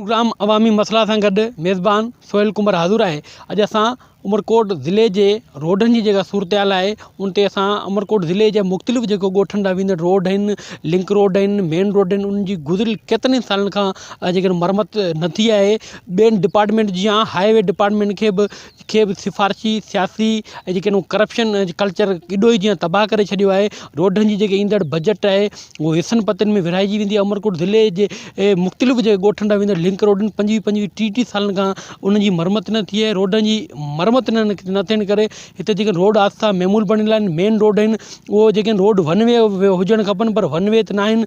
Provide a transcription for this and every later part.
Programme عوامي مسئلا سان گڏ ميزبان سهيل ڪنڀر حاضر آهي اڄ اسان عمرڪوٽ ضلعي جي روڊن جي جيڪا صورتحال آهي ان تي اسان عمرڪوٽ ضلعي جي مختلف جيڪو ڳوٺن ڏانهن ويندڙ روڊ آهن لنڪ روڊ آهن مين روڊ آهن ان جي گذريل ڪيترن ئي سالن کان جيڪڏهن مرمت نه ٿي آهي ٻين ڊپارٽمينٽ جيان هاء وي ڊپارٽمينٽ کي به کي به سفارشي سياسي ۽ جيڪي نو ڪرپشن جي ڪلچر ڪيڏو ئي جيئن تباهه ڪري ڇڏيو آهي روڊن جي جيڪي ايندڙ بجيٽ آهي هو حصن پتن ۾ ورهائجي ويندي آهي عمرڪوٽ ضلعي جي مختلف جي ڳوٺن ڏانهن ويندڙ لنڪ روڊن پنجويهه پنجويهه ٽيهه ٽيهه سالن کان ان جي مرمت نه ٿي آهي روڊن جي مرمت نه نه ٿيڻ ڪري هتي جيڪي روڊ حادثا معمول بڻيل آهن مين روڊ آهن اهو جيڪي روڊ ون وي هجڻ کپن پر ون وي ته ناهن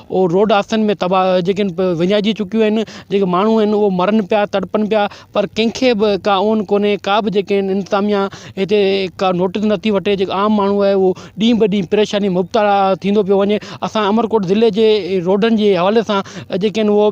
او روڊ حادثن ۾ تباهه جيڪي آهن وڃائجي چڪيون آهن جيڪي ماڻهو آهن اهي مرن پيا تڙپن پيا پر ڪنهن کي به ڪا اونهه ڪونهي ڪا به جيڪي آهن انتظاميا هتي ڪا نوٽيس نٿي وٺي جيڪو عام ماڻهو آهي اهو ڏينهن ٻه ڏينهن پريشاني مبتلا ٿيندو پيو وڃي اسان امرڪوٽ ضلعي جي روڊن جي حوالي سان جيڪي آهن هو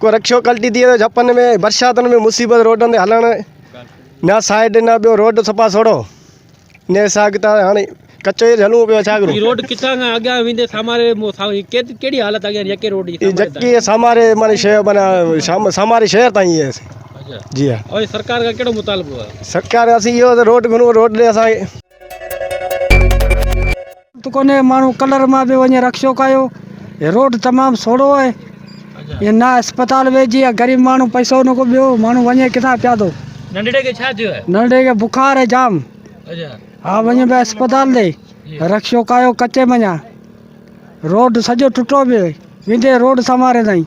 ڪو رڪشو ڪلٽي ٿي ويو جهپن ۾ برساتن ۾ مصيبت روڊن تي هلڻ نه سائيڊ نه ٻيو روڊ صفا سوڙو نه اسان اڳتا هاڻي ڪچو ئي هلون پيو ڇا ڪرون روڊ ڪتان کان اڳيان ويندي ساماري ڪهڙي حالت اڳيان يڪي روڊ جي جڪي ساماري معني شهر معنی ساماري شهر تائين هي جي ها سرڪار کان ڪهڙو مطالبو آهي سرڪار کان اسين اهو روڊ گهرون روڊ ڏي اسان کي ته ڪونهي ماڻهو ڪلر مان به وڃي رڪشو ڪايو هي روڊ تمام سوڙو آهي هي نه اسپتال ويجي آهي غريب ماڻهو پئسو نه ڪو ٻيو ماڻهو وڃي ڪٿان پيادو ننڍڙي کي ڇا ٿيو آهي ننڍڙي کي بخار آهي جام اچا ها وڃي به اسپتال ڏي رڪشو ڪايو ڪچي مڃا روڊ سڄو ٽٽو به ويندي روڊ سنواري تائين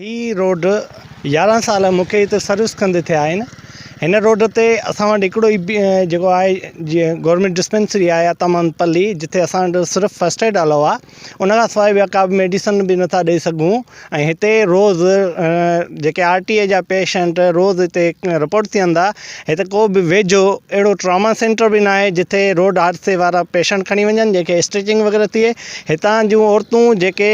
هي روڊ يارهن سال مون کي هتي سروس ڪندي ٿيا آهن هن روڊ تي اسان وٽ هڪڙو ئي جيڪو آهي جيئن گورمينٽ ڊسپينسري آهي عطا محمد پلي جتي اسان وٽ صرف فرسٽ ايڊ الاؤ آهي ان کان سواء ٻيا ڪا بي ميڊيسن بي نٿا ڏئي سگهون ۽ هتي روز جيڪي آر ٽي اي جا پيشنٽ روز هتي رپورٽ ٿين ٿا هتي ڪو به ويجهو اهڙو ٽراما سينٽر بي ناهي جتي روڊ حادثي وارا پيشنٽ کڻي وڃن جنهن کي اسٽيچنگ وغيره ٿئي هتان جون عورتون جيڪي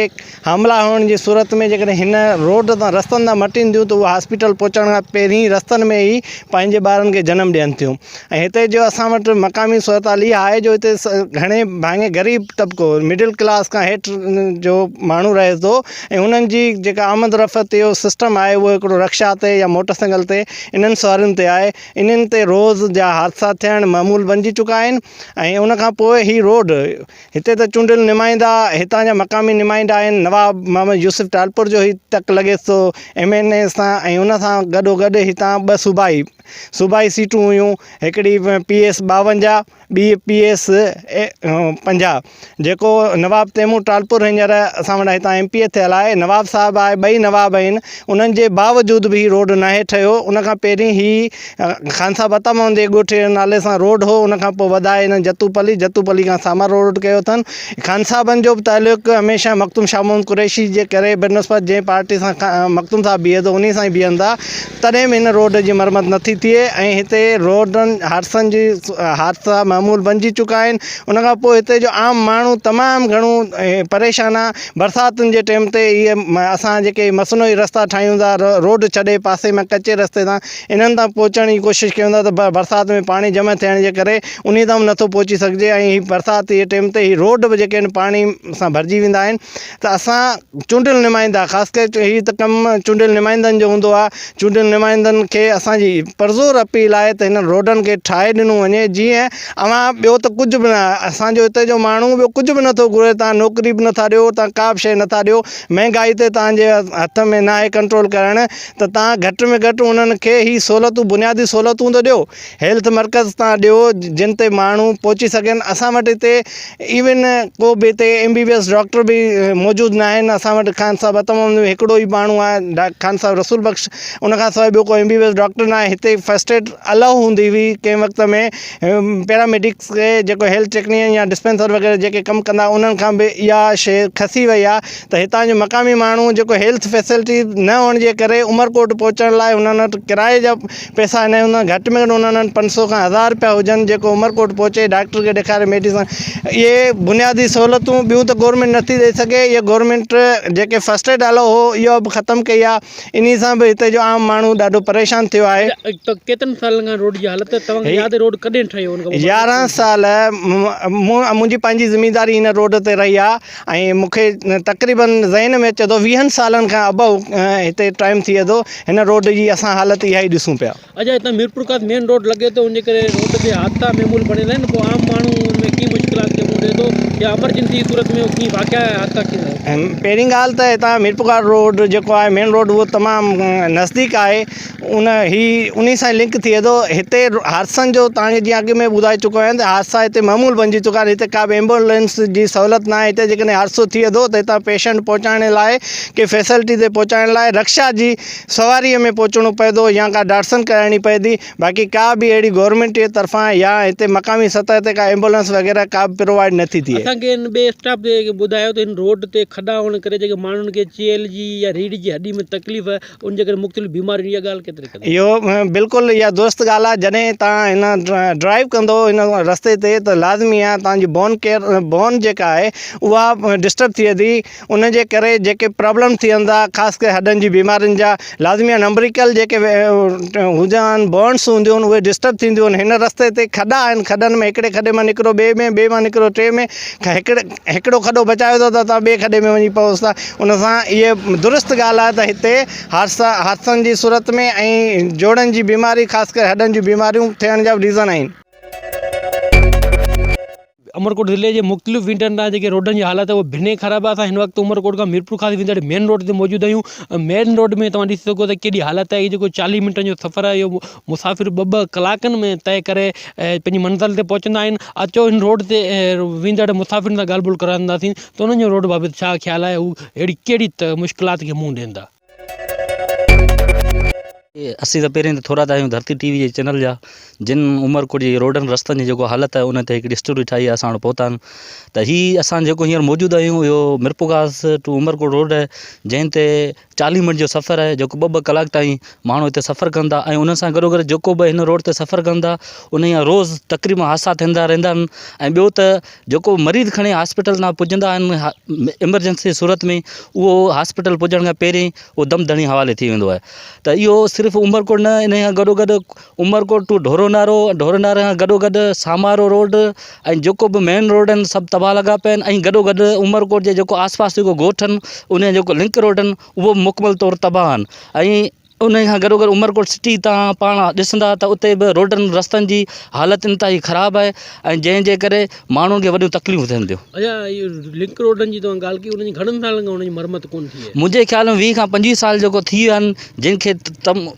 حاملا هئڻ جي صورت ۾ جيڪڏهن هن روڊ تان رستن تان مٽين ٿيون ته اهي هاسپيٽل پهچڻ کان پهرين رستن ۾ ئي پنهنجي ٻارن کي جنم ڏين ٿيون ۽ هتي جو اسان وٽ مقامي صورتحال اها آهي جو هتي گهڻي ڀاڱي غريب طبقو مڊل ڪلاس کان هيٺ جو ماڻهو رهي ٿو ۽ انهن جي جيڪا آمد رفت جو سسٽم آهي اهو هڪڙو رڪشا تي يا موٽر سائيڪل تي انهن سوارين تي آهي انهن تي روز جا حادثا ٿيڻ معمول بنجي چڪا آهن ۽ ان کان پوء هي روڊ هتي ته چونڊيل نمائندا هتان جا مقامي نمائندا آهن، نواب محمد يوسف ٽالپر جو هي تڪ لڳيس ٿو ايم اين اي سان ۽ ان سان گڏو گڏ هتان ٻه صوبائي صوبائي سيٽون هيون هڪڙي پي ايس ٻاونجاهه ٻي پي ايس پنجاهه جيڪو نواب تيمور ٽالپر هينئر اسان وٽ هتان ايم پي اي ٿيل آهي نواب صاحب آهي ٻئي نواب آهن انهن جي باوجود به هي روڊ ناهي ٺهيو ان کان پهرين هي خان صاحب عطا محمد جي ڳوٺ جي نالي سان روڊ هو ان کان پوء وڌائي هن جتو پلي جتو پلي کان سامر روڊ ڪيو اٿن خان صاحبن جو به تعلق هميشه مخدوم شاهه محمد قريشي جي ڪري بنسبت جنهن پارٽي سان مخدوم صاحب بيهي ٿو انهي سان ئي بيهن ٿا تڏهن به هن روڊ جي مرمت نه ٿي ٿئي ۽ هتي روڊن حادثن جي حادثا معمول بنجي چڪا آهن ان کان پوء هتي جو عام ماڻهو تمام گهڻو پريشان آهي برساتن جي ٽيم تي اهي اسان جيڪي مصنوعي رستا ٺاهيون ٿا روڊ ڇڏي پاسي ۾ ڪچي رستي تان انهن تان پهچڻ جي ڪوشش ڪيون ٿا ته پر برسات ۾ پاڻي جمع ٿيڻ جي ڪري انهي تان به نٿو پهچي سگهجي ۽ هي برسات جي ٽيم تي هي روڊ به جيڪي آهن پاڻي سان ڀرجي ويندا آهن ته اسان چونڊيل نمائندا خاص ڪري هي ته ڪم چونڊيل نمائندن جو هوندو آهي چونڊيل نمائندن کي اسان جي پرزور اپيل آهي ته هنن روڊن کي ٺاهي ڏنو وڃي جيئن اوهان ٻيو ته ڪجهه به نه اسان جو هتي جو ماڻهو ٻيو ڪجهه به نٿو گهري تان نوڪري به نٿا ڏيو تان ڪا به شيء نٿا ڏيو مهنگائي تي تان جي هٿ ۾ ناهي ڪنٽرول ڪرڻ ته توهان گهٽ ۾ گهٽ انهن کي هي سهولتون بنيادي سهولتون ته ڏيو هيلٿ مرڪز تان ڏيو جن تي ماڻهو پهچي سگهن اسان وٽ هتي ايون ڪو به هتي M B B S doctor به موجود نه آهن اسان وٽ خان صاحب هتم هتم هڪڙو ئي ماڻهو آهي ڊاڪٽر خان صاحب رسول بخش ان کان سواء ٻيو ڪو M B B S doctor ناهي هتي فرسٽ ايڊ الاء هوندي هئي ڪنهن وقت ۾ پيراميڊڪس کي جيڪو هيلٿ ٽيڪنيا يا ڊسپينسر وغيره جيڪي ڪم ڪندا انهن کان به اها شيء کسي وئي آهي ته هتان جو مقامي ماڻهو جيڪو هيلٿ فيسلٽي نه هئڻ جي ڪري عمرڪوٽ پهچڻ لاء هنن وٽ ڪرايي جا پئسا نه هوندا گهٽ ۾ گهٽ هنن وٽ پنج سئو کان هزار رپيا هجن جيڪو عمرڪوٽ پهچي ڊاڪٽر کي ڏيکاري ميڊيسن اهي بنيادي سهولتون ٻيون ته گورنمينٽ نٿي ڏئي سگهي اهي گورنمينٽ جيڪي فسٽ ايڊ الاء هو اها به ختم ڪئي آهي انهي سان به هتي جو عام ماڻهو ڏاڍو پريشان ٿيو آهي ڪيترن سالن کان روڊ جي حالت توهان کي ياد روڊ ڪڏهن ٺهيو يارهن سال منهنجي پنهنجي زمينداري هن روڊ تي رهي آهي ۽ مون کي تقريبن ذهن ۾ اچي ٿو ويهن سالن کان ابو هتي ٽائيم ٿئي ٿو هن روڊ جي اسان حالت اها ئي ڏسون پيا. اجي هتان ميرپور کان مين روڊ لڳي ٿو ان ڪري روڊ تي حادثا معمول بڻيل آهن پوء عام ماڻهو ان ۾ ڪيئن مشڪلات کي منهن ڏئي ٿو يا ايمرجنسي جي صورت ۾ اهو ڪيئن واقعا يا حادثا ڪيئن ٿيندا. پهرين ڳالهه ته هتان ميرپور کان روڊ جيڪو آهي مين روڊ اهو تمام نزديڪ آهي ان هي انهي سان لنڪ ٿئي ٿو هتي حادثن جو تان کي جيئن اڳ ۾ ٻڌائي چڪو آهيان ته حادثا هتي معمول بنجي چڪا آهن هتي ڪابه ايمبولينس جي سهولت ناهي هتي جي ڪڏهن حادثو ٿئي ٿو ته هتان پيشنٽ پهچائڻ لاء ڪنهن فيسلٽي تي پهچائڻ لاء رڪشا جي سواريء ۾ پهچڻو پئي ٿو يا ڪا ڊاٽسن ڪرائڻي پئي ٿي باقي ڪا به اهڙي گورنمينٽ جي طرفان يا هتي مقامي سطح تي ڪا ايمبولينس وغيره ڪا به پرووائيڊ نٿي ٿئي اسان کي هن ٻئي اسٽاف تي ٻڌايو ته هن روڊ تي کڏا هئڻ ڪري جيڪي ماڻهن کي چيلهه جي يا ريڙهه جي هڏي ۾ تڪليف ان جي ڪري مختلف بيمارين اها ڳالهه ڪيتري قدر. اهو بلڪل اها درست ڳالهه آهي جڏهن توهان هن ڊرائيو ڪندو ان رستي تي ته لازمي آهي توهان جي بون ڪيئر بون جيڪا آهي اها ڊسٽرب ٿئي ٿي ان جي ڪري جيڪي پرابلم ٿين ٿا خاص ڪري هڏن جي بيمارين جا لازمي آهي نمبريڪل جيڪي هوندا آهن بونس هونديون آهن اهي ڊسٽرب ٿينديون آهن هن رستي تي کڏا آهن کڏن ۾ هڪڙي کڏي مان نڪرو ٻئي ۾ ٻئي مان نڪرو ٽئي ۾ هڪڙي هڪڙو کڏو بچايو اٿو ته توهان ٻئي کڏي ۾ وڃي پئوس ٿا ان سان اهي درست ڳالهه آهي ته هتي حادثا حادثن جي صورت ۾ ۽ جوڙن جي بيماري خاص ڪري هڏن جون بيماريون ٿيڻ جا ريزن آهن. عمرڪوٽ ضلعي جي مختلف وينٽن تان جيڪي روڊن جي حالت آهي اها بنهه خراب آهي اسان هن وقت عمرڪوٽ کان ميرپور خاص ويندڙ مين روڊ تي موجود آهيون مين روڊ ۾ توهان ڏسي سگهو ٿا ڪيڏي حالت آهي هي جيڪو چاليهه منٽن جو سفر آهي اهو مسافر ٻه ٻه ڪلاڪن ۾ طئي ڪري پنهنجي منزل تي پهچندا آهن اچو هن روڊ تي ويندڙ مسافرن سان ڳالهه ٻولهه ڪرائينداسين ته انهن جو روڊ بابت ڇا خيال آهي هو اهڙي ڪهڙي مشڪلات کي منهن ڏين ٿا. اسين ته پهرين ٿورا ته آهيون ڌرتي ٽي وي جي چينل جا جن عمرڪوٽ جي روڊن رستن جي جيڪو حالت آهي ان تي هڪڙي اسٽوري ٺاهي آهي اسان وٽ پهتا آهن ته هي اسان جيڪو هينئر موجود آهيون اهو ميرپورخاص ٽو عمرڪوٽ روڊ جنهن تي چاليهه منٽ جو سفر آهي جيڪو ٻه ٻه ڪلاڪ تائين ماڻهو هتي سفر ڪن ٿا ۽ ان سان گڏو گڏ جيڪو به هن روڊ تي سفر ڪن ٿا انهي جا روز تقريبن حادثا ٿيندا رهندا آهن ۽ ٻيو ته جيڪو به مريض کڻي هاسپيٽل تان پڄندا آهن ايمرجنسي صورت ۾ اهو هاسپيٽل پڄڻ کان پهرين اهو دم دڻي حوالي ٿي ويندو آهي ته اهو صرف عمرڪوٽ نه انهي سان گڏو گڏ عمرڪوٽ ٽو ڍورو نارو ۽ ڍورو ناري کان گڏوگڏ سامارو روڊ ۽ جيڪو به مين روڊ آهن سڀ تباهه لڳا پيا آهن ۽ گڏوگڏ عمرڪوٽ جي جيڪو آس پاس جيڪو ڳوٺ آهن ان جا جيڪو لنڪ روڊ آهن اهو به مڪمل طور تباهه آهن ۽ ان کان گڏوگڏ عمرڪوٽ سٽي تان پاڻ ڏسندا ته اتي به روڊن رستن جي حالت انتهائي خراب آهي ۽ جنهن جي ڪري ماڻهن کي وڏيون تڪليفون ٿين ٿيون اچا اهي لنڪ روڊن جي توهان ڳالهه ڪئي انهن جي گهڻن سالن کان انهن جي مرمت ڪونه ٿي آهي منهنجي خيال ۾ ويهه کان پنجويهه سال جيڪو ٿي ويا آهن جن کي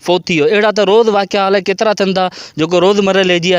فوت ٿي ويو اهڙا ته روز واقعا الائي ڪيترا ٿين ٿا جيڪو روز مرحلي جي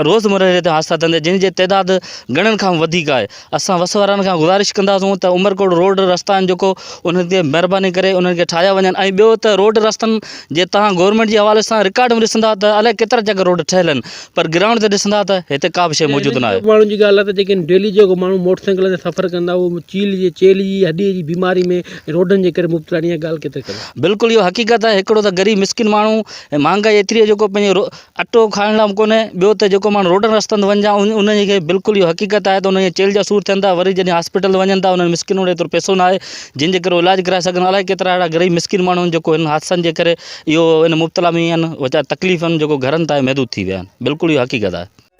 روز مرحلي تي حادثا ٿين ٿا جن جي تعداد گهڻن کان وڌيڪ آهي اسان وس وارن کان گذارش ڪنداسون ته عمرڪوٽ روڊ رستا آهن جيڪو انهن تي مهرباني ڪري انهن کي ٺاهيا وڃن ۽ ٻيو ته روڊ رستن جي تهان گورنمينٽ جي حوالي سان رڪارڊ ۾ ڏسندا ته الائي ڪيترا چڪر روڊ ٺهيل آهن پر گرائونڊ تي ڏسندا ته هتي ڪا به شيء موجود ناهي ماڻهن جي ڳالهه ته جيڪي ڊيلي جيڪو ماڻهو موٽر سائيڪل تي سفر ڪندا هو چيلهه جي چيلهه جي هڏي جي بيماري ۾ روڊن جي ڪري مبتلا آھن اھا ڳالھ ڪيتري قدر صحيح آھي؟ بلڪل اھو حقيقت آھي ھڪڙو ته غريب مسڪين ماڻھو ۽ مھانگائي ايتري آھي جيڪو پنھنجو اٽو کائڻ لاء به ڪونھي ٻيو ته جيڪو ماڻھو روڊن رستن تي وڃي انھن کي بلڪل اھو حقيقت آھي ته انھن جا چيلھھ جا سور ٿين ٿا وري جڏھن ھاسپيٽل تي وڃن ٿا انھن مسڪينن وٽ ايترو پئسو ناھي جنھن جي ڪري اھو علاج ڪرائي سگھن الائي ڪيترا اھڙا غريب مسڪين ماڻھو آھن جيڪو ھنن حادثن جي ڪري اھو ھن مبتلا ۾ آھن ويچارا تڪليفن جيڪو گھرن تائين محدود ٿي ويا آھن بلڪل اھو حقيقت آھي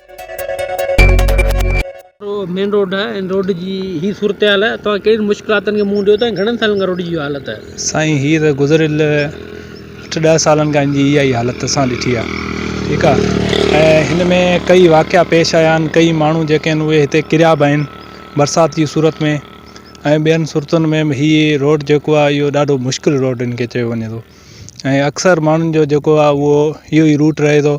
مين روڊ ۽ روڊ جي هي صورتحال توهان ڪهڙين مشڪلاتن کي منهن ڏيو ٿا ۽ گهڻن سالن کان روڊ جي اهو حالت آهي؟ سائين هي ته گذريل اٺ ڏهه سالن کان هن جي اها ئي حالت اسان ڏٺي آهي ٺيڪ آهي ۽ هن ۾ ڪئي واقعا پيش آيا آهن ڪئي ماڻهو جيڪي آهن اهي هتي ڪريا به آهن برسات جي صورت ۾ ۽ ٻين صورتن ۾ به هي روڊ جيڪو آهي اهو ڏاڍو مشڪل روڊ هن کي چيو وڃي ٿو ۽ اڪثر ماڻهن جو جيڪو آهي اهو اهو ئي روٽ رهي ٿو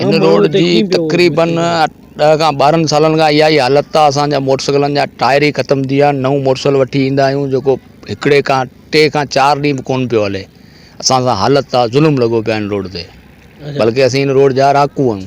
هن روڊ جي تقريبن ڏهه کان ٻارهن سالن کان اها ئي حالت آهي اسان جا موٽر سائيڪلن جا ٽائر ئي ختم ٿي ويا آهن نئون موٽر سائيڪل وٺي ايندا آهيون جيڪو هڪڙي کان ٽي کان چار ڏينهن به ڪونه پيو هلي اسان سان حالت آهي ظلم لڳو پيو آهي هن روڊ تي بلڪه اسين هن روڊ جا رهاڪو آهيون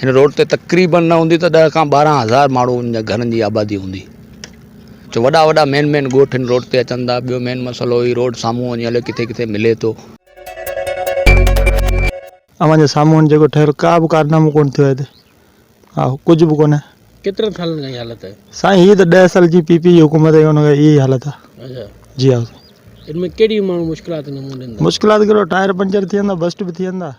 هن روڊ تي تقريبن نه هوندي ته ڏهه کان ٻارهن هزار ماڻهن جا گهرن جي آبادي هوندي جو وڏا وڏا مين مين ڳوٺ هن روڊ تي اچن ٿا ٻيو مين مسئلو هي روڊ سامهون وڃي الائي ڪٿي ڪٿي ملي ٿو. اوهان جي سامهون جيڪو ٺهيل ڪا به ڪارنامو ڪونه ٿيو آهي هتي ها ڪجهه به ڪونه. ڪيترن سالن کان اهي حالت آهي؟ سائين هي ته ڏهه سال جي پي پي جي حڪومت آهي ان کان اهي ئي حالت آهي. جي ها سائين. ان ۾ ڪهڙيون ماڻهو مشڪلات ڏين ٿا؟ مشڪلات ڪهڙو ٽائر پنچر ٿين ٿا بسٽ به ٿين ٿا.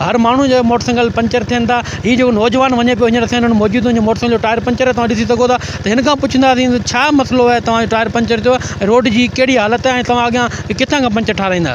هر ماڻهو جا موٽر سائيڪل پنچر ٿين ٿا هي جيڪو نوجوان وڃي پيو هينئر اسان وٽ موجود هن جي موٽر سائيڪل جو ٽائر پنچر توهان ڏسي سگهو ٿا ته هن کان پڇنداسين ته ڇا مسئلو آهي توهان جو ٽائر پنچر ٿيو آهي روڊ جي ڪهڙي حالت آهي توهان اڳيان ڪٿان کان پنچر ٺاهرائيندا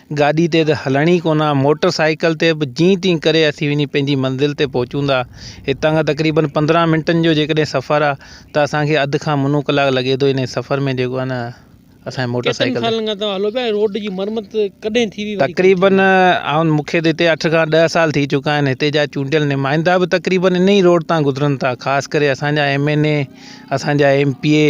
گاڏي تي ته هلڻ ئي ڪونه، موٽر سائيڪل تي به جيئن تيئن ڪري اسين وڃي پنهنجي منزل تي پهچون ٿا. هتان کان تقريبن پندرهن منٽن جو جيڪڏهن سفر آهي ته اسان کي اڌ کان منو ڪلاڪ لڳي ٿو انهي سفر ۾ جيڪو آهي نه اسان کي موٽر سائيڪل تي. ڪيترن سالن کان توهان هلو پيا ۽ روڊ جي مرمت ڪڏهن ٿي هئي وري ڪڏهن ٿي تقريبن هئي؟ آئون مون کي ته هتي اٺ کان ڏهه سال ٿي چڪا آهن هتي جا چونڊيل نمائندا به تقريبن انهي روڊ تان گذرن ٿا خاص ڪري اسان جا ايم اين اي اسان جا ايم پي اي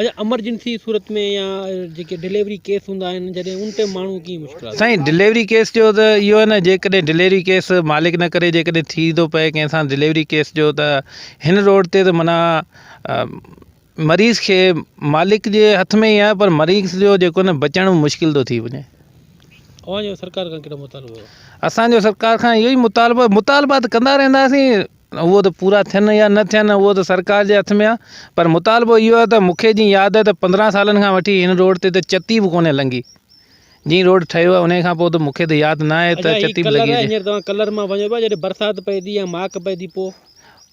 اچا امرجنسي صورت ۾ يا جيڪي ڊليوري ڪيس هوندا آهن جڏهن ان ٽيم ماڻهو ڪيئن مشڪلات سائين ڊليوري ڪيس جو ته اهو آهي نه جيڪڏهن ڊليوري ڪيس مالڪ نه ڪري جيڪڏهن ٿي ٿو پئي ڪنهن سان ڊليوري ڪيس جو ته هن روڊ تي ته معنيٰ مريض کي مالڪ جي هٿ ۾ ئي آهي پر مريض جو جيڪو نه بچڻ مشڪل ٿو ٿي وڃي اوهان جو سرڪار کان ڪهڙو مطالبو اٿو اسانجو سرڪار کان اهو ئي مطالبو مطالبا ته ڪندا رهنداسين اهو ته پورا ٿين يا نه ٿين اهو ته سرڪار جي هٿ ۾ آ پر مطالبو اهو آ ته مونکي جئين ياد آ ته پندرهن سالن کان وٺي هن روڊ تي ته چتي به ڪونهي لنگهي جئين روڊ ٺهيو آ انهي کان پوء ته مونکي ته ياد نه آهي ته چتي به لڳي هجي.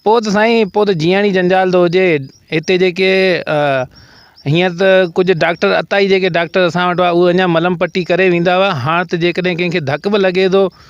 پوء ته سائين پوء ته جيئڻ ئي جنجال ٿو هجي هتي جيڪي هينئر ته ڪجهه ڊاڪٽر اتاهي جيڪي ڊاڪٽر اسان وٽ هئا اهي اڃان ملم پٽي ڪري ويندا هئا هاڻ ته جيڪڏهن ڪنهن کي ڌڪ به لڳي ٿو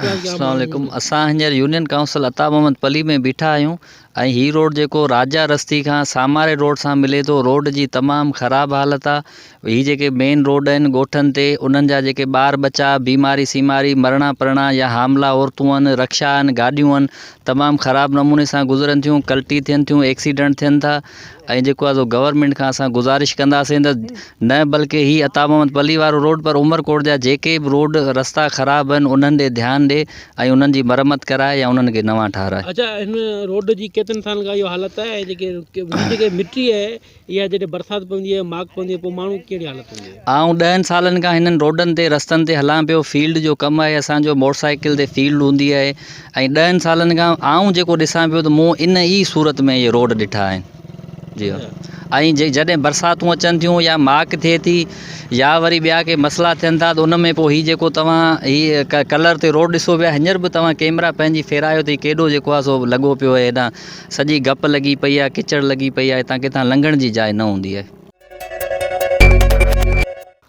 السلام عليڪم اسان هينئر يونين ڪائونسل عطا محمد پلي ۾ بيٺا آهيون ۽ هي روڊ جيڪو راجا رستي کان ساماري روڊ سان ملي ٿو روڊ جي تمام خراب حالت آهي هي جيڪي مين روڊ آهن ڳوٺن تي انهن جا جيڪي ٻار ٻچا بيماري سيماري مرڻا پرڻا يا حاملا عورتون آهن رڪشا آهن گاڏيون آهن تمام خراب نموني سان گذرن ٿيون ڪلٽي ٿين ٿيون ايڪسيڊنٽ ٿين ٿا ۽ جيڪو آھي سو گورنمينٽ کان اسان گذارش ڪنداسين ته نه بلڪه ھي عطا محمد پلي وارو روڊ پر عمرڪوٽ جا جيڪي به روڊ رستا خراب آھن انھن ڏي ڌيان ڏي ۽ انھن جي مرمت ڪرائي يا انھن کي نوان ٺھرائي. اچا ھن روڊ جي ڪيترن سالن کان اھو حالت آھي ۽ جيڪي ھن جيڪي مٽي آھي اھا جڏھن برسات پوندي آھي ماڪ پوندي آھي پوء ماڻھو ڪھڙي حالت ھوندي آھي. آئون ڏهن سالن کان ھنن روڊن تي رستن تي ھلان پيو فيلڊ جو ڪم آھي اسان جو موٽرسائيڪل تي فيلڊ ھوندي آھي ۽ ڏهن سالن کان آئون جيڪو ڏسان پيو ته مون ان ئي صورت ۾ اهي روڊ ڏٺا آهن جي ۽ جي جڏهن برساتون اچن ٿيون يا ماڪ ٿئي ٿي يا وري ٻيا ڪي مسئلا ٿين ٿا ته ان ۾ پوء هي جيڪو توهان هي ڪلر تي روڊ ڏسو پيا هينئر به توهان ڪيمرا پنهنجي ڦيرايو ته هي ڪيڏو جيڪو آهي سو لڳو پيو آهي هيڏانهن سڄي گپ لڳي پئي آهي ڪچڙ لڳي پئي آهي هتان ڪٿان لنگهڻ جي جاء نه هوندي آهي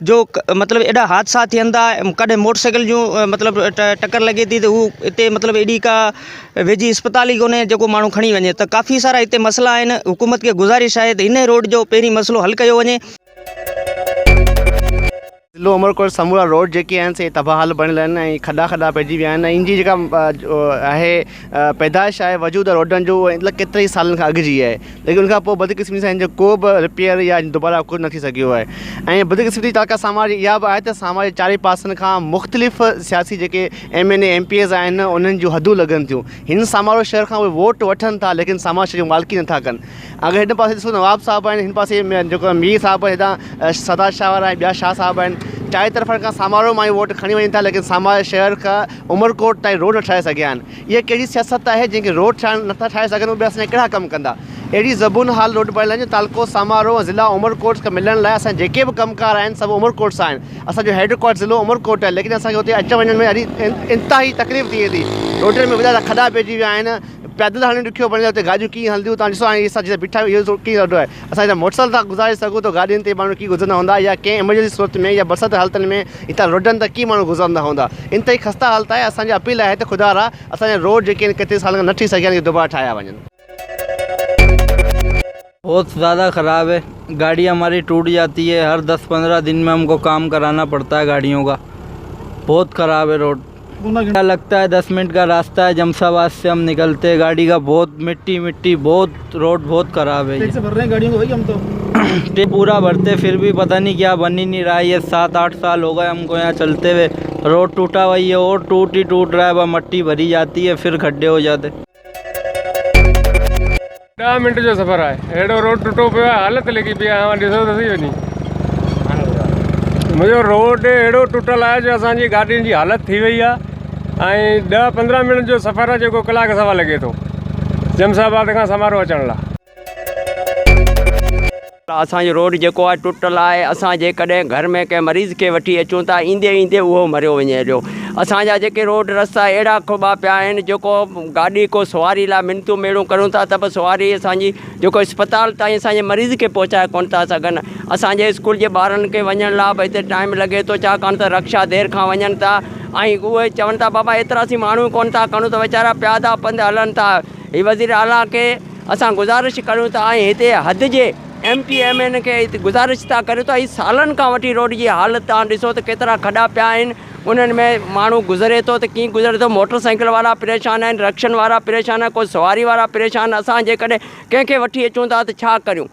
جو مطلب ايڏا حادثا ٿين ٿا ڪڏهن موٽرسائيڪل جون مطلب ٽڪر لڳي ٿي ته هو اتي مطلب ايڏي ڪا ويجهي اسپتال ئي ڪونهي جيڪو ماڻهو کڻي وڃي ته ڪافي سارا هتي مسئلا آهن حڪومت کي گذارش آهي ته هن روڊ جو پهرين مسئلو حل ڪيو وڃي. ضلعو عمرڪوٽ سمورا روڊ جيڪي آهن سي تباهه حال بڻيل آهن ۽ کڏا کڏا پئجي ويا آهن ۽ ان جي جيڪا آهي پيدائش آهي وجود ۽ روڊن جو اهو اطلاق ڪيترن ئي سالن کان اڳ جي آهي ليڪن ان کان پوء بدقسمتي سان ان جو ڪو به رپيئر يا دوباره ڪجهه نه ٿي سگهيو آهي ۽ بدقسمتي جا ٽاڪا سان واري اها به آهي ته سان واري چارئي پاسن کان مختلف سياسي جيڪي M N A M P A's آهن انهن جون حدون لڳن ٿيون هن سان وارو شهر کان اهي ووٽ وٺن ٿا ليڪن سان واري شهر جي مالڪي نه ٿا ڪن اگر هن پاسي ڏسو نواب صاحب آهن هن پاسي جيڪو مير صاحب آهن هتان سردار شاهه وارا ٻيا شاهه صاحب آهن چارئي طرفن کان سامارو مان ووٽ کڻي وڃن ٿا ليڪن ساماري شهر کان عمرڪوٽ تائين روڊ نه ٺاهي سگهيا آهن اها ڪهڙي سياست آهي جنهن کي روڊ ٺاهڻ نٿا ٺاهي سگهن اهي ٻيا اسان جا ڪهڙا ڪم ڪندا اهڙي زبون حال روڊ بڻائڻ لاء تعلقو سامارو ۽ ضلع عمرڪوٽ کان ملڻ لاء اسان جا جيڪي به ڪم ڪار آهن سڀ عمرڪوٽ سان آهن اسان جو هيڊ ڪوارٽر ضلعو عمرڪوٽ آهي ليڪن اسان کي اتي اچڻ وڃڻ ۾ ڏاڍي انتهائي تڪليف ٿئي ٿي روڊن ۾ وڏا وڏا کڏا پئجي ويا آهن پيدل هلڻ ڏکيو بڻيل آهي اتي گاڏيون ڪيئن هلنديون توهان ڏسو هاڻي اسان جتي بيٺا آهيون اهو ڪيئن روڊ آهي اسان هتان موٽر سائيڪل ٿا گذاري سگهون ته گاڏين تي ماڻهو ڪيئن گذرندا هوندا يا ڪنهن ايمرجنسي صورت ۾ يا برسات جي حالتن ۾ هتان روڊن تان ڪيئن ماڻهو گذرندا هوندا انتهائي خسته حالت آهي اسان جي اپيل آهي ته خدا را اسان جا روڊ جيڪي آهن ڪيترن سالن کان نه ٺهي سگهيا آهن اهي دوباره ٺاهيا وڃن. بھت زياده خراب هي گاڙي ھماري ٽوٽ جاتي هي هر دس پندرا دن مي ھمڪو ڪام ڪرانا پڙتا هي گاڙيون ڪا بھت خراب هي روڊ گھنٽا لگتا هي دس منٽ ڪا راستا هي جمس آباد سي ھم نڪلتي هي گاڙي ڪا بھت مٽي مٽي بھت روڊ بھت خراب هي ٽيڪس ڀر رھي هي گاڙيون ڪا بھائي ھم تو ٽيڪس پورا ڀرتي فر بي پتا ني ڪيا بن هي ني رھا هي يه سات آٺ سال هوگئي ھمڪو يھان چلتي هوئي روڊ ٽوٽا ھوئي هي اور ٽوٽ هي ٽوٽ رھا هي با مٽي ڀري جاتي هي فر کڏي هوجاتي ڏهه منٽ جو سفر آهي اهڙو روڊ ٽٽو پيو آهي حالت لڳي پيئي آهي اوهان ڏسو ته صحيح وڃي منهنجو روڊ اهڙو ٽٽل آهي جو اسان جي گاڏين جي حالت ٿي وئي آهي ۽ ڏهه پندرهن منٽ جو سفر آهي جيڪو ڪلاڪ سوا لڳي ٿو جمس آباد کان سمارو اچڻ لاء اسان جو روڊ جيڪو آهي ٽٽل آهي اسان جيڪڏهن گهر ۾ ڪنهن مريض کي وٺي اچون ٿا ايندي ايندي اهو مريو وڃي هليو اسان جا جيڪي روڊ رستا اهڙا کٻا پيا آهن جيڪو گاڏي ڪو سواري لاء منتون ميڙون ڪريون ٿا ته به سواري اسانجي جيڪو اسپتال تائين اسانجي مريض کي پهچائي ڪونه ٿا سگهن اسانجي اسڪول جي ٻارن کي وڃڻ لاء به هتي ٽائيم لڳي ٿو ڇاڪاڻ ته رڪشا دير کان وڃن ٿا ۽ اهي چون ٿا بابا ايترا سين ماڻهو ڪونه ٿا کڻون ته ويچارا پيادا پنڌ هلن ٿا هي وزيراعليٰ کي اسان گذارش ڪريون ٿا ۽ هتي حد جي ايم ٽي ايم اين کي گذارش ٿا ڪريون ته هي سالن کان وٺي روڊ جي حالت توهان ڏسو ته ڪيترا کڏا پيا آهن انهن ۾ ماڻهو گذري ٿو ته ڪيئن گذري ٿو موٽر سائيڪل وارا پريشان آهن رڪشن وارا پريشان آهن ڪو سواري وارا پريشان اسان جيڪڏهن ڪنهن کي وٺي اچون ٿا ته ڇا ڪريون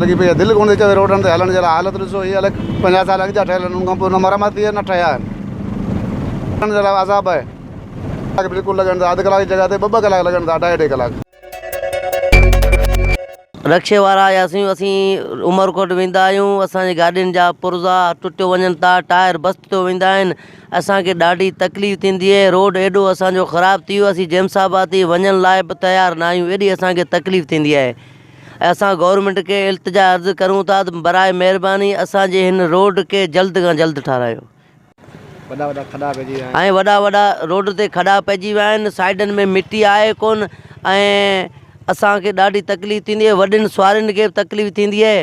لڳي پئي آهي دل ڪونه ٿي چوي روڊن تي هلڻ جي لاء حالت ڏسو هي الڳ پنجاهه سال اڳ جا ٺهيل آهن ان کان پوء نه مرمت ٿي آهي نه ٺهيا آهن هلڻ جي لاء عذاب آهي ڪلاڪ بلڪل لڳن ٿا اڌ ڪلاڪ جي جڳهه تي ٻه ٻه ڪلاڪ لڳن ٿا اڍائي اڍائي ڪلاڪ. رڪشي وارا يا سيون اسين عمرڪوٽ ويندا آهيون اسان جي گاڏين جا پرزا ٽٽيو وڃن ٿا ٽائر بست ٿيو ويندا آهن اسان کي ڏاڍي تڪليف ٿيندي اهي روڊ ايڏو اسان جو خراب ٿي ويو اسين جيمس آباد تي وڃڻ لاء به تيار نه آهيون ايڏي اسان کي تڪليف ٿيندي آهي اسان گورنمينٽ کي التجا عرض ڪريون ٿا ته برائي مهرباني اسان جي هن روڊ کي جلد کان جلد ٺارايو ۽ وڏا وڏا روڊ تي کڏا پئجي ويا آهن سائيڊن ۾ مٽي آهي ڪون ۽ اسان کي ڏاڍي تڪليف ٿيندي اهي وڏين سوارين کي به تڪليف ٿيندي اهي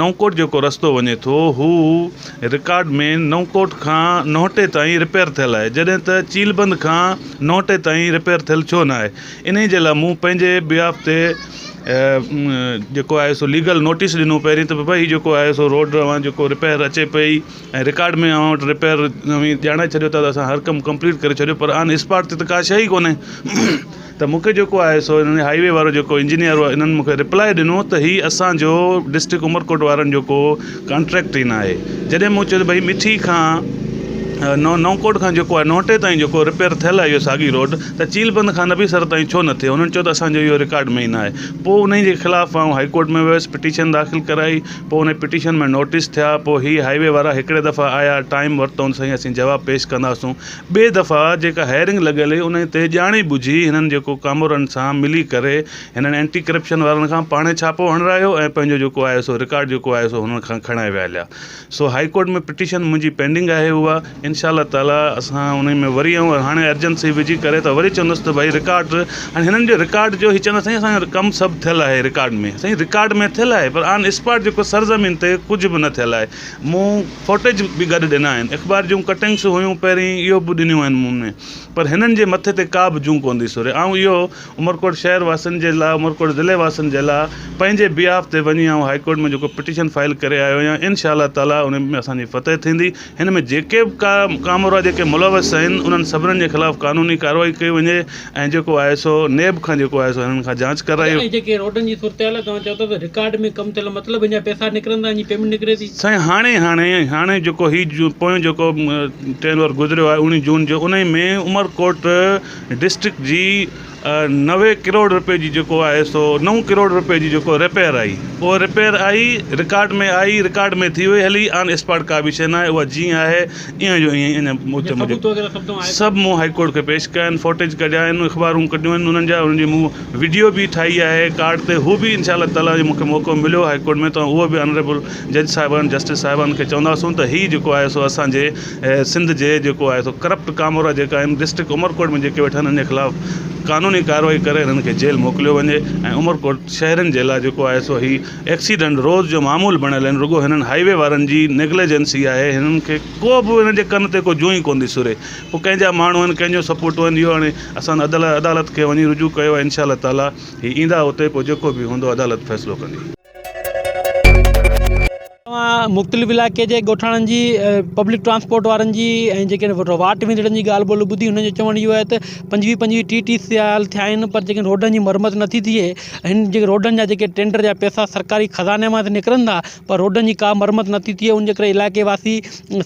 نئونڪوٽ جيڪو رستو وڃي ٿو هو رڪارڊ مين نئونڪوٽ کان نوهٽي تائين رپيئر ٿيل آهي جڏهن ته چيلبند کان نوهٽي تائين رپيئر ٿيل ڇو نه آهي انهي جي لاء مون پنهنجي بيهاف تي جيڪو آهي سو ليگل نوٽيس ڏنو پهرين ته بابا هي جيڪو آهي سو روڊ اوهان جيڪو رپيئر اچي پئي ۽ رڪارڊ مين اوهان وٽ رپيئر اوهين ڄاڻائي ڇڏيو ٿا ته اسان هر ڪم ڪمپليٽ ڪري ڇڏيو پر آن اسپاٽ تي ته ڪا شئي ڪونهي ته مون کي جيڪو آهي سو انهن هائي وي وارو جيڪو انجنيئر هو انهن مون کي رپلائي ڏنو ته هي اسانجو ڊسٽرڪٽ عمرڪوٽ وارن جو ڪو ڪانٽريڪٽ ئي ناهي جڏهن مون چيو ته ڀئي مٺي کان نو نوڪوٽ کان جيڪو آهي نوٽي تائين جيڪو رپيئر ٿيل آهي اهو ساڳي روڊ ته چيل بند کان نبي سر تائين ڇو نٿي انهن چيو ته اسانجو اهو رڪارڊ ۾ ئي ناهي پوء انهي جي خلاف آئون هائي ڪورٽ ۾ ويس پٽيشن داخل ڪرائي پوء انهي پٽيشن ۾ نوٽيس ٿيا پوء هي هائي وي وارا هڪڙي دفعي آيا ٽائيم ورتائون ته سائين اسين جواب پيش ڪنداسون ٻئي دفعا جيڪا هيئرنگ لڳل هئي انهي تي ڄاڻي ٻجهي هنن جيڪو ڪامورن سان ملي ڪري هنن اينٽي ڪرپشن وارن کان پاڻهي ڇاپو هڻرايو ۽ پنهنجو جيڪو آهي سو رڪارڊ جيڪو آهي سو هنن کان کڻائي ويا هليا سو هائي ڪورٽ ۾ پٽيشن منهنجي پينڊنگ آهي اها انشاء الله تعالي اسان انهي ۾ وري آئون هاڻي ارجنسي وجهي ڪري ته وري چوندس ته ڀائي رڪارڊ هاڻي هنن جو رڪارڊ جو هي چوندا سائين اسان جو ڪم سڀ ٿيل آهي رڪارڊ ۾ سائين رڪارڊ ۾ ٿيل آهي پر آن اسپاٽ جيڪو سرزمين تي ڪجهه به نه ٿيل آهي مون فوٽيج به گڏ ڏنا آهن. اخبار جون ڪٽنگس هيون پهرين اهو به ڏنيون آهن مون ۾ پر هنن جي مٿي تي ڪا به جون ڪونه ٿي سوري آئون اهو عمرڪوٽ شهر واسين جي لا عمرڪوٽ ضلعي واسين جي لا پنهنجي بيهاف تي وڃي آئون هائي ڪورٽ ۾ جيڪو پٽيشن فائل ڪري آيو آهيان ان شاء الله تعالي ان ۾ اسان جي فتح ٿيندي هن ۾ جيڪي به ڪا ڪامورا جيڪي ملوث آهن انهن سڀنن جي خلاف قانوني ڪارروائي ڪئي وڃي ۽ جيڪو آهي سو نيب کان جيڪو آهي سو هنن کان جاچ ڪرائيو. سائين جيڪي روڊن جي صورتحال توهان چئو ٿا ته رڪارڊ ۾ ڪم ٿيل مطلب هن جا پئسا نڪرن ٿا هن جي پيمينٽ نڪري ٿي. سائين هاڻي هاڻي هاڻي جيڪو هي پويون جيڪو ٽين اور گذريو آهي اوڻي جون جو انهي ۾ عمرڪوٽ ڊسٽرڪٽ جي نوي ڪروڙ روپي جي جيڪو آهي سو نو ڪروڙ روپي جي جيڪو رپيئر آئي اهو رپيئر آئي رڪارڊ ۾ آئي رڪارڊ ۾ ٿي وئي هلي آن اسپاٽ ڪا به شئي ناهي اها جيئن آهي ايئن جو ايئن اڃا موت موجب سڀ مون هائي ڪورٽ کي پيش ڪيا آهن فوٽيج ڪڍيا آهن اخبارون ڪڍيون آهن انهن جا انهن جي مون وڊيو به ٺاهي آهي ڪارڊ تي هو به انشاء الله تعالٰي جي مونکي موقعو مليو هائي ڪورٽ ۾ ته اهو به آنريبل جج صاحبان جسٽس صاحبان کي چونداسون ته هي جيڪو آهي سو اسانجي سنڌ جي جيڪو آهي سو ڪرپٽ ڪامورا جيڪا آهن ڊسٽرڪٽ عمرڪوٽ ۾ جيڪي ويٺا آهن انهن جي خلاف قانوني ڪارروائي ڪري انهن کي جيل موڪليو وڃي ۽ عمرڪوٽ شهرين جي لاء جيڪو آهي سو هي ايڪسيڊنٽ روز جو معمول بڻيل آهن رڳو هنن هائي وي وارن جي نيگليجنسي آهي هنن کي ڪو به هنن جي ڪن تي ڪو جون ئي ڪون ٿي سري پوء ڪنهن جا ماڻهو آهن ڪنهن جو سپورٽ آهن اهو هاڻي اسان عدل عدالت کي وڃي رجوع ڪيو آهي انشاء الله تعالٰي هي ايندا اتي پوء جيڪو به هوندو عدالت فيصلو ڪندي. توهان مختلف علائقي جي ڳوٺاڻن جي پبلڪ ٽرانسپورٽ وارن جي ۽ جيڪي واٽ ويندڙن جي ڳالهه ٻولهه ٻڌي انهن جو چوڻ اهو آهي ته پنجويهه پنجويهه ٽيهه ٽيهه سال ٿيا آهن پر جيڪي روڊن جي مرمت نٿي ٿئي ھن جي روڊن جا جيڪي ٽينڊر جا پيسا سرڪاري خزاني مان ته نڪرن ٿا پر روڊن جي ڪا مرمت نه ٿي ٿئي ان جي ڪري علائقي واسي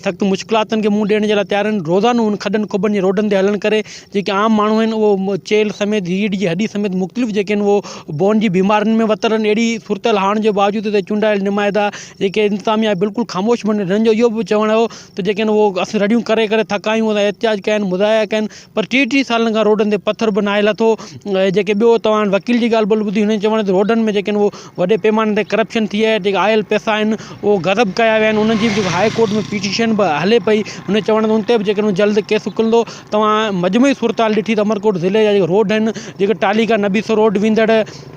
سخت مشڪلاتن کي منهن ڏيڻ جي لاء تيار آهن روزانو ان کڏن کٻن جي روڊن تي هلڻ ڪري جيڪي عام ماڻهو آهن اهو چيلهه سميت ريڙهه جي هڏي سميت مختلف جيڪي آهن اهو بون جي بيمارين ۾ وتل آهن اهڙي صورتحال هئڻ جي باوجود هتي چونڊايل نمائندا جيڪي انتظاميا بلڪل خاموش هن جو اهو به چوڻ هو ته جيڪي آهن اهو اسين رڙيون ڪري ڪري ٿڪا آهيون اسان احتجاج ڪيا آهن مظاهرا ڪيا آهن پر ٽيهه ٽيهه سالن کان روڊن تي پٿر به ناهي لٿو ۽ جيڪي ٻيو توهان وڪيل جي ڳالهه ٻولهه ٻڌي هوندي چوڻ تي روڊن ۾ جيڪي هو وڏي پيماني تي ڪرپشن ٿي آهي جيڪي آيل پيسا آهن اهو غضب ڪيا ويا آهن انهن جي به هاء ڪورٽ ۾ پٽيشن به هلي پئي هن چوڻ ان تي به جيڪي جلد ڪيس اڪلندو توهان مجموعي صورتحال ڏٺي ته عمرڪوٽ ضلعي جا جيڪي روڊ آهن جيڪي ٽالي کان نبي سرور ويندڙ